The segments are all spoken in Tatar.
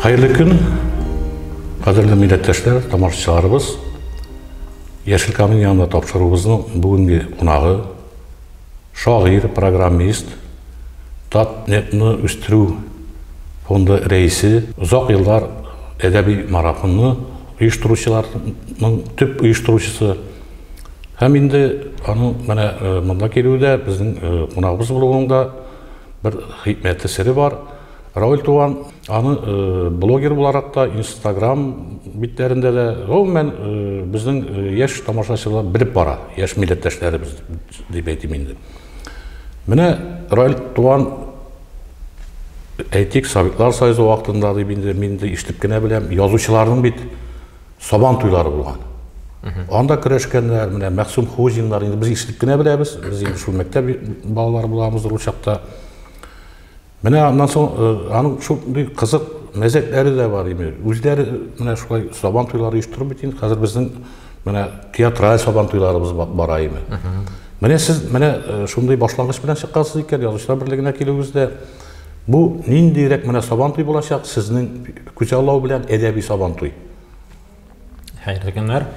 Хәерле көн, кадерле милләттәшләр, тамашачыларыбыз. Яшел камин янында тапшыруыбызның бүгенге кунагы шагыйрь, программист, Татнетны үстерү фонды рәисе, озак еллар әдәби марафонны оештыручыларның төп оештыручысы. Һәм инде аның менә монда килүе дә, безнең кунагыбыз булуының да бер хикмәте, сере бар. Равил туган аны блогер буларак та, Instagram битләрендә дә, гомумән, безнең яшь тамашачылар белеп бара, яшь милләттәшләребез дип әйтим инде. Менә Равил туган әйтик, Советлар Союзы вакытында дип инде мин дә ишетеп кенә беләм, язучыларның бит Сабан туйлары булган. Анда көрәшкәннәр, менә Мәхсүм Хузиннар, инде без ишетеп кенә беләбез, без инде шул мәктәп балалары булабыз ул чакта. Менә аннан соң э, аның шундый кызык мәзәкләре дә бар инде. Үзләре э, менә шулай сабан туйлары оештырып бит инде. Хәзер безнең менә театраль сабан туйларыбыз бара инде. Менә сез менә э, шундый башлангыч белән чыккансыз икән, язучылар берлегенә килүегездә бу ниндирәк менә сабан туй булачак сезнең күзаллау белән әдәби сабан туй? Хәерле көннәр.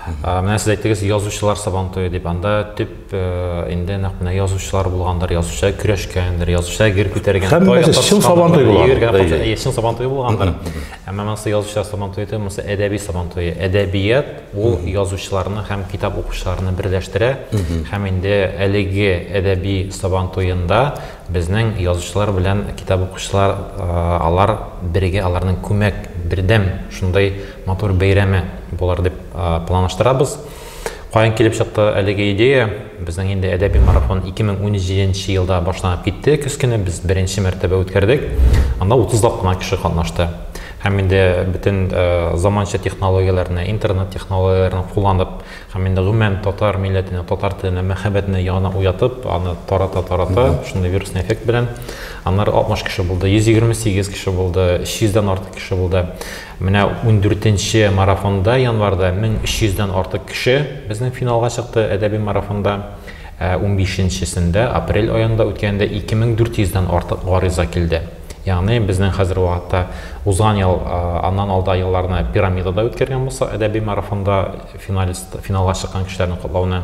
Менә сез әйттегез, язучылар сабантуе дип. Анда төп э, инде нәкъ менә язучылар булгандыр, язучылар көрәшкәндер, язучылар гер күтәргән. Һәммәсе чын сабантуй булган. Чын сабантуй булгандыр. Әмма монысы язучылар сабантуе түгел, монысы әдәби сабантуе. Әдәбият ул язучыларны һәм китап укучыларны берләштерә. Һәм инде әлеге әдәби сабантуенда Безнең язучылар белән китап укучылар, алар бергә, аларның күмәк, бердәм шундый матур бәйрәме булыр дип планлаштырабыз. Каян килеп чыкты әлеге идея? Безнең инде әдәби марафон 2017 елда башланып китте, көз көне без беренче мәртәбә үткәрдек. Анда 30 лап кына кеше катнашты. Һәм инде бөтен заманча технологияләрне, интернет технологияләрен кулланып, Һәм инде гомумән татар милләтенә, татар теленә мәхәббәтне яңадан уятып, аны тарата-тарата, шундый вирусный эффект белән, аннары 60 кеше булды, 128 кеше булды, 300 дән артык кеше булды. Менә ундүртенче марафонда, январьда 1300 дән артык кеше безнең финалга чыкты әдәби марафонда. Ә унбишенчесендә, апрель аенда үткәндә 2400 дән артык гариза килде. Ягъни безнең хәзерге вакытта узган ел, аннан алда елларны пирамидада үткәргән булсак, әдәби марафонда Финалист, финалга чыккан кешеләрне котлауны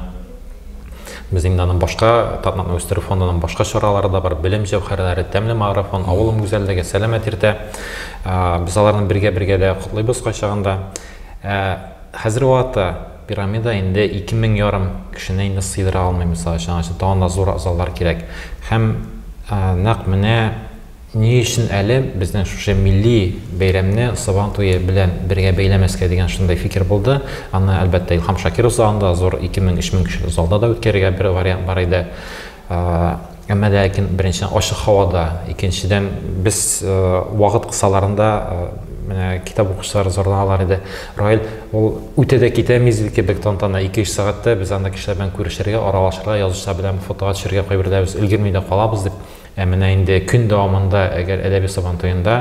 без инде аны башка Татнакны үстерү фондының башка чаралары да бар, белем җәүһәрләре, тәмле марафон, авылым гүзәллеге, сәламәт иртә. Без аларны бергә-бергә дә котлыйбыз кайчагында. Хәзер вакытта пирамида инде 2000 ярым кешене инде сыйдыра алмый, мисал өчен, аңа өчен тагын да зур заллар кирәк. Һәм нәкъ менә Ни өчен әле безнең шушы милли бәйрәмне Сабан туе белән бергә бәйләмәскә дигән шундый фикер булды. Аны, әлбәттә, Илһам Шакиров залында, зур ике мең, өч мең кешелек залда да үткәрергә бер вариант бар иде. Әмма ләкин, беренчедән, ачык һавада, икенчедән, без вакыт кысаларында менә китап укучылар зарланалар иде. Раил, ул үтә дә китә мизгел кебек тантана, ике-өч сәгатьтә без анда кешеләр белән күрешергә, аралашырга, язучылар белән фотога төшәргә кайберләребез өлгерми дә калабыз, дип Ә менә инде көн дәвамында, әгәр әдәби Сабантуенда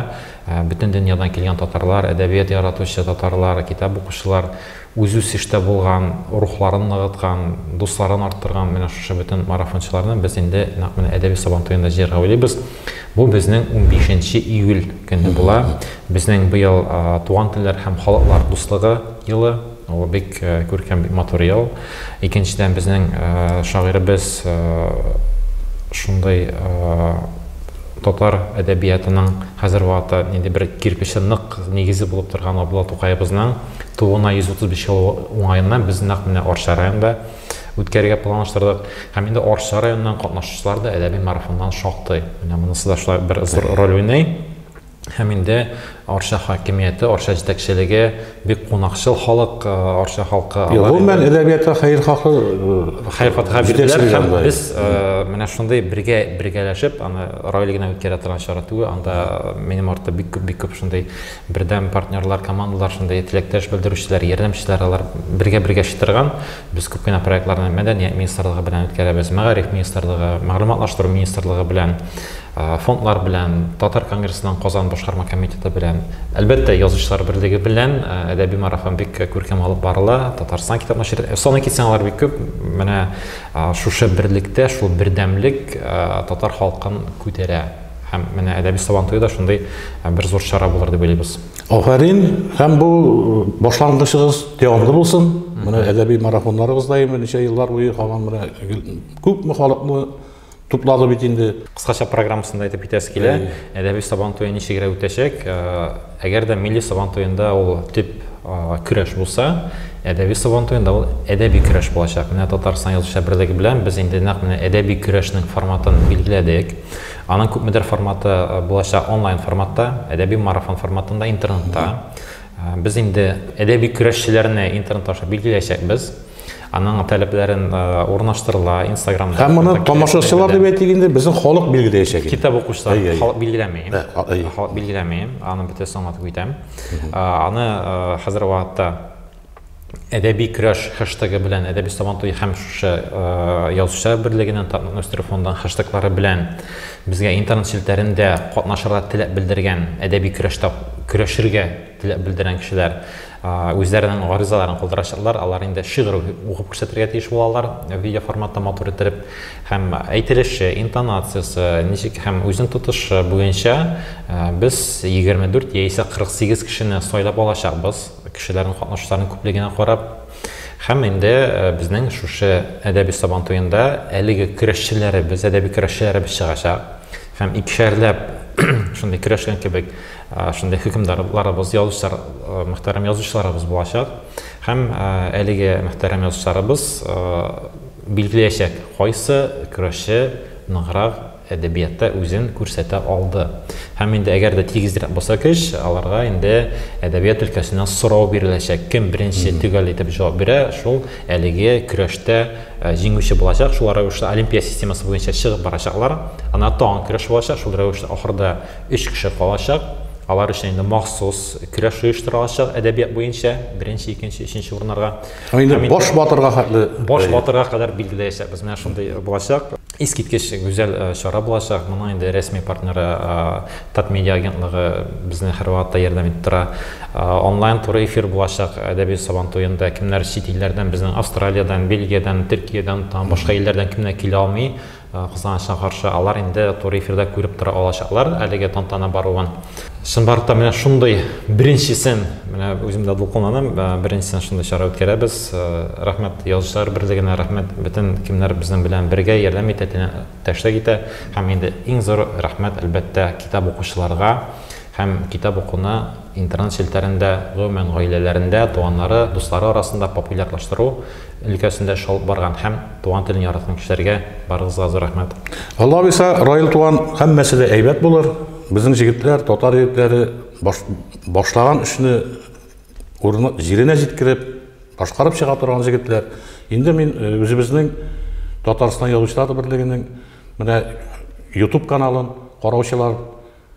бөтен дөньядан килгән татарлар, әдәбият яратучы татарлар, китап укучылар үзүсештә булган, рухларын ныгыткан, дусларын арттырган менә шушы бөтен марафончыларны без инде нәкъ менә әдәби Сабантуенда җыярга уйлыйбыз. Бу безнең 15 июль көне була. Безнең быел туган телләр һәм халыклар дуслыгы елы. Ул бик күркәм, бик матур ел. Икенчедән, безнең шагыйребез шундый татар әдәбиятының хәзер вакытта нинди бер кирпече нык нигезе булып торган Габдулла Тукаебызның тууына 135 ел уңаеннан без нәкъ менә Арча районында үткәрергә планлаштырдык. Һәм инде Арча районыннан катнашучылар да әдәби марафоннан шактый. Менә монысы да шулай бер зур роль уйный. Һәм инде Арча хакимияте, Арча җитәкчелеге бик кунакчыл халык, э, Арча халкы. Юк, гомумән әдәбиятка хәерхаһы э, хәерхатга бирделәр һәм без э, менә шундый бергә бергәләшеп аны Раил генә үткәрә торган чара түгел, анда минем артта бик күп бик күп шундый бердәм партнерлар, командалар, шундый теләктәш белдерүчеләр, ярдәмчеләр алар бергә-бергә чытырган. Без күп кенә проектларны мәдәният министрлыгы белән үткәрәбез, мәгариф министрлыгы, мәгълүматлаштыру министрлыгы белән фондлар белән, Татар конгрессының Казан башкарма комитеты белән, әлбәттә, Язучылар берлеге белән әдәби марафон бик күркәм алып барыла. Татарстан китап нәшрият. Саный китсәң, алар бик күп. Менә шушы берлектә, шул бердәмлек татар халкын күтәрә. Һәм менә әдәби сабантуе да шундый бер зур чара булыр дип уйлыйбыз. Афәрин, һәм бу башлангычыгыз дәвамлы булсын. Менә әдәби марафоннарыгыз даими ничә еллар буе һаман менә күпме халыкны Туплады бит инде. Кыскача программасында әйтеп китәсе килә. Әдәби Сабан туе ничегрәк үтәчәк? Әгәр дә милли Сабан туенда ул төп көрәш булса, әдәби Сабан туенда ул әдәби көрәш булачак. Менә Татарстан Язучылар берлеге белән без инде нәкъ менә әдәби көрәшнең форматын билгеләдек. Аның күпмедер форматы булачак онлайн форматта, әдәби марафон форматында, интернетта. Без инде әдәби көрәшчеләрне интернет аша билгеләячәкбез. Аның таләпләрен урнаштырыла Инстаграмда. Һәм моны тамашачылар дип әйтик инде, безнең халык билгеләячәк инде. Китап укучылар халык билгеләми. Халык билгеләми, аны бөтен соңлатып китәм. Аны хәзер вакытта әдәби көрәш хэштегы белән әдәби сабантуй һәм шушы язучылар берлегенең татның үстерү фондының хэштеглары белән безгә интернет челтәрендә катнашырга теләк белдергән әдәби көрәштә көрәшергә Теләк белдергән кешеләр үзләренең гаризаларын калдырачаклар, алар инде шигырь укып күрсәтергә тиеш булалар, видеоформатта матур иттереп, һәм әйтелеше, интонациясе, ничек һәм үзен тотышы буенча без 24 яисә 48 кешене сайлап алачакбыз, кешеләрнең катнашучыларның күплегенә карап. Һәм инде безнең шушы әдәби Сабан туенда әлеге көрәшчеләребез, әдәби көрәшчеләребез чыгачак һәм икешәрләп шундый көрәшкән кебек шундый хөкемдарларыбыз, язучылар, мөхтәрәм язучыларыбыз булачак. Һәм әлеге мөхтәрәм язучыларыбыз билгеләячәк, кайсы көрәшче ныграк әдәбиятта үзен күрсәтә алды. Һәм инде әгәр дә тигезрәк булса көч, аларга инде әдәбият өлкәсеннән сорау биреләчәк. Кем беренче төгәл итеп җавап бирә, шул әлеге көрәштә җиңүче булачак. Шул рәвешле олимпия системасы буенча чыгып барачаклар. Ана тагын көрәш булачак, шул рәвешле ахырда Өч кеше калачак. Алар өчен инде махсус көрәш оештырылачак әдәбият буенча, беренче, икенче, өченче урыннарга. Инде баш батырга хәтле. Баш батырга кадәр билгеләячәкбез. Менә шундый булачак. Искиткеч гүзәл чара булачак. Моның инде рәсми партнеры Татмедиа агентлыгы безне һәрвакытта ярдәм итеп тора. Онлайн туры эфир булачак әдәби Сабантуенда. Кемнәр чит илләрдән, безнең Австралиядән, Бельгиядән, Төркиядән, тагын башка илләрдән кемнәр килә алмый, Кызганычка каршы, алар инде туры эфирда күреп тора алачаклар әлеге тантана баруын. Чынбарлыкта та менә шундый беренчесен, менә үзем дә дулкынланам, беренчесен шундый чара үткәрәбез. Рәхмәт Язучылар берлегенә, рәхмәт бөтен кемнәр безнең белән бергә ярдәм итә, тәшлек итә. Һәм инде иң зур рәхмәт, әлбәттә, китап укучыларга һәм китап укуны, Интернет челтәрендә, гомумән, гаиләләрендә, туганнары, дуслары арасында популярлаштыру өлкәсендә эш алып барган һәм туган телен яраткан кешеләргә барыгызга зур рәхмәт. Алла буйса, Раил туган, һәммәсе дә әйбәт булыр. Безнең җегетләр, татар егетләре башлаган эшне урыны, җиренә җиткереп, башкарып чыга торган җегетләр. Инде мин үзебезнең Татарстан Язучылар берлегенең менә YouTube каналын караучылар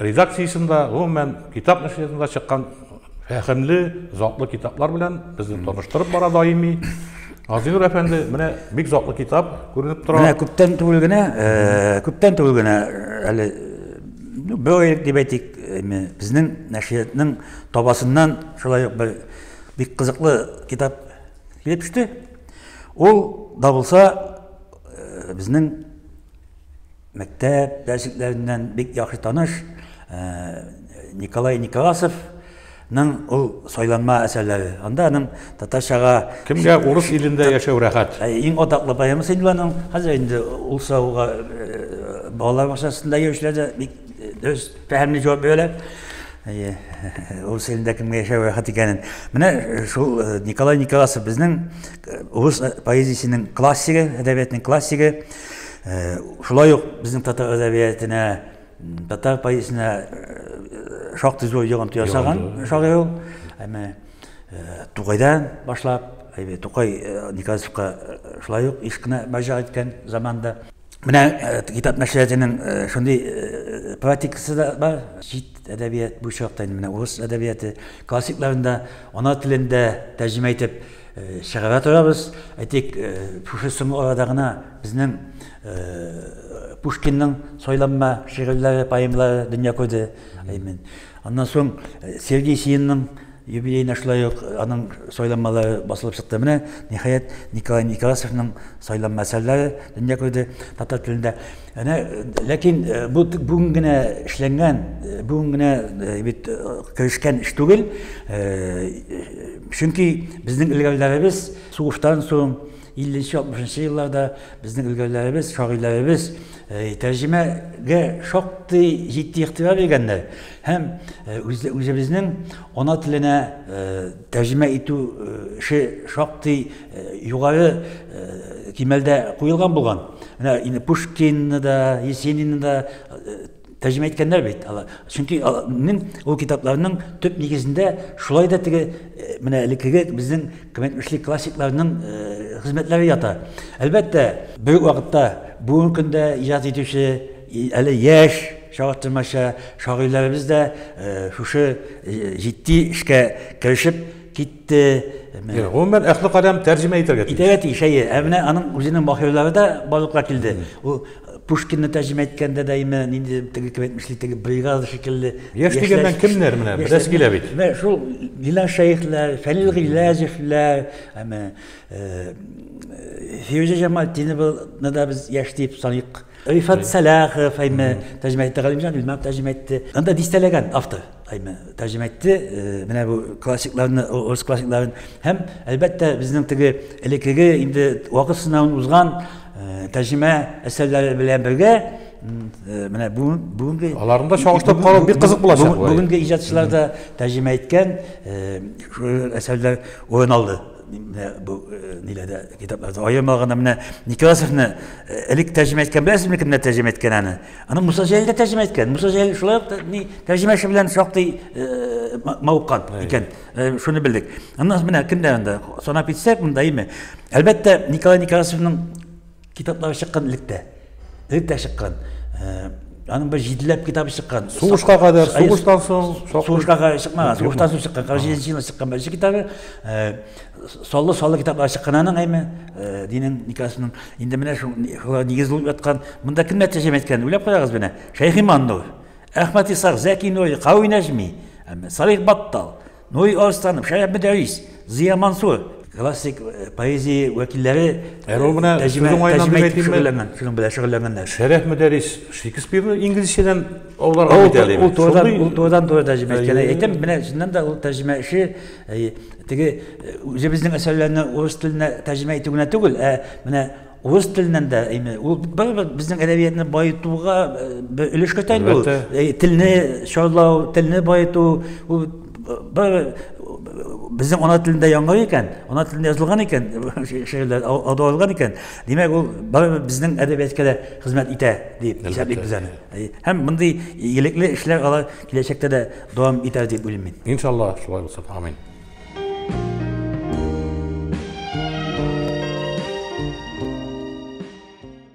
Редакциясендә, гомумән, китап нәшриятында чыккан фәһемле, затлы китаплар белән безне таныштырып бара даими. Газинур әфәнде, менә бик затлы китап күренеп тора. Менә күптән түгел генә, э, күптән түгел генә э, әле ну, бер дип әйтик, безнең нәшриятның табасыннан шулай ук бер бик кызыклы китап килеп төште. Ул да булса э, безнең мәктәп дәресләреннән бик яхшы таныш Николай Николасовның ул сайланма әсәрләре. Анда аның татарчага Кемгә урыс илендә яшәү рәхәт? Иң атаклы поэмасы инде аның. Хәзер инде ул сорауга балалар бакчасында йөрүчеләр дә бик дөрес фәһемле җавап бирәләр. Урыс илендә кемгә яшәү рәхәт икәнен. Менә шул Николай Николасов безнең урыс поэзиясенең классигы, әдәбиятның классигы. Шулай ук безнең татар әдәбиятына, татар поэзиясенә шактый зур йогынты ясаган шагыйрь ул. Әмма Тугайдан башлап, әйбе Тукай Николаевка шулай ук еш кына мөрәҗәгать иткән заманда. Менә китап нәшриятының шундый практикасы да бар. Чит әдәбият буенча вакыт инде менә урыс әдәбияты классикларын да ана телендә тәрҗемә итеп чыгара торабыз. Әйтик, шушы соңгы арада гына безнең Пушкинның сойланма шигырьләре, поэмалары дөнья күрде. Әймен. Аннан соң Сергей Сиинның юбилейна шулай ук аның сайланмалары басылып чыкты. Менә, ниһаять, Николай Некрасовның сайланма әсәрләре дөнья күрде татар телендә. Әнә, ләкин э, бу бүген генә эшләнгән, э, бүген генә э, бит керешкән эш түгел. Чөнки безнең өлгәрләребез сугыштан соң 50-60 елларда безнең өлгәрләребез, шагыйләребез тәрҗемәгә шактый җитди игътибар биргәннәр һәм үзебезнең ана теленә тәрҗемә итү эше шактый Югары кимәлдә куелган булган. Менә инде Пушкинны да, Есенинны да тәрҗемә иткәннәр бит алар. Чөнки аларның ул китапларның төп нигезендә шулай да теге менә элеккеге безнең кыйммәтле классикларның хезмәтләре ята. Әлбәттә, бер вакытта бүгенге көндә иҗат итүче әле яшь чагыштырмача шагыйрьләребез дә шушы җитди эшкә керешеп Те, менә. Гомумән, әхле кадәм тәрҗемә итәргә тиеш. Итәргә тиеш, әйе. Ә менә аның үзенең баһилары да барлыкка килде. Ул Пушкинны тәрҗемә иткәндә дә име, нинди теге кем әйтмешли, теге бригада шикелле. Яшь дигәннән кемнәр менә, беләс килә бит. Менә шул Гилан Шәехләр, Фәнил Гыйләҗевләр, әмә Фирүзә Җамалтинованы да без яшь дип саныйк. Рифат Сәлахов, әйме, тәрҗемә итте, Галимҗан Илмар тәрҗемә итте. Анда дистәләгән автор. Әйме, тәрҗемә әйтте, э, менә бу классикларны, урыс классикларын һәм әлбәттә безнең теге элеккеге инде вакыт сынавын узган э, тәрҗемә әсәрләре белән бергә э, менә бүгенге аларны да чагыштырып карау бик кызык булачак. Бүгенге иҗатчылар да тәрҗемә иткән әсәрләр урын алды менә бу ниләрдә китапларда аермаганда менә Некрасовны элек тәрҗемә иткән беләсезме кемнәр тәрҗемә иткән аны Аны Муса Җәлил дә тәрҗемә иткән. Муса Җәлил шулай ук ни тәрҗемәче белән шактый э, мавыккан икән. Э, шуны белдек. Аннан менә кемдә анда санап китсәк, монда име? Әлбәттә, Николай Николаевның китаплары чыккан электә. Электә чыккан. Э, аның бер җиделәп китабы чыккан. Сугышка кадәр, сугыштан соң, сугышка кадәр чыкмаган. Сугыштан соң чыккан, 47 елда чыккан беренче китабы. Саллы саллы китаплар чыккан аның әйме, э, динен никасының. Инде менә шул нигез булып яткан. Монда кемнәр тәҗем әйткән? Уйлап карагыз менә. Шәйх Иман Нур, Әхмәт Исах, Зәки Нури, Кави Нәҗми, Салих Баттал, Нури Арстанов, Шәрәф Мөдәрис, Зия Мансур, классик э, поэзия вәкилләре э, Рул менә сүзең айнан дип әйтим шөгыльләнгән, шуның белән шөгыльләнгәннәр. Шәрәф Мөдәрис Шекспирны инглизчәдән аларга бит әле. Ул турыдан, ул турыдан туры тәрҗемә иткән. Әйтәм, менә чыннан да ул тәрҗемә эше Теге үзебезнең әсәрләрне урыс теленә тәрҗемә итү генә түгел, ә менә урыс теленнән дә әйме, ул барыбер безнең әдәбиятны баетуга бер өлеш кертә инде ул. Телне чарлау, телне баету, ул бер безнең ана телендә яңгыр икән, ана телендә язылган икән, шигырьләр аудылган икән, димәк ул барыбер безнең әдәбиятка да хезмәт итә дип исәплибез аны. Һәм мондый игелекле эшләр алар Киләчәктә дә дәвам итәр дип уйлыйм мин. Иншалла шулай булсын. Амин.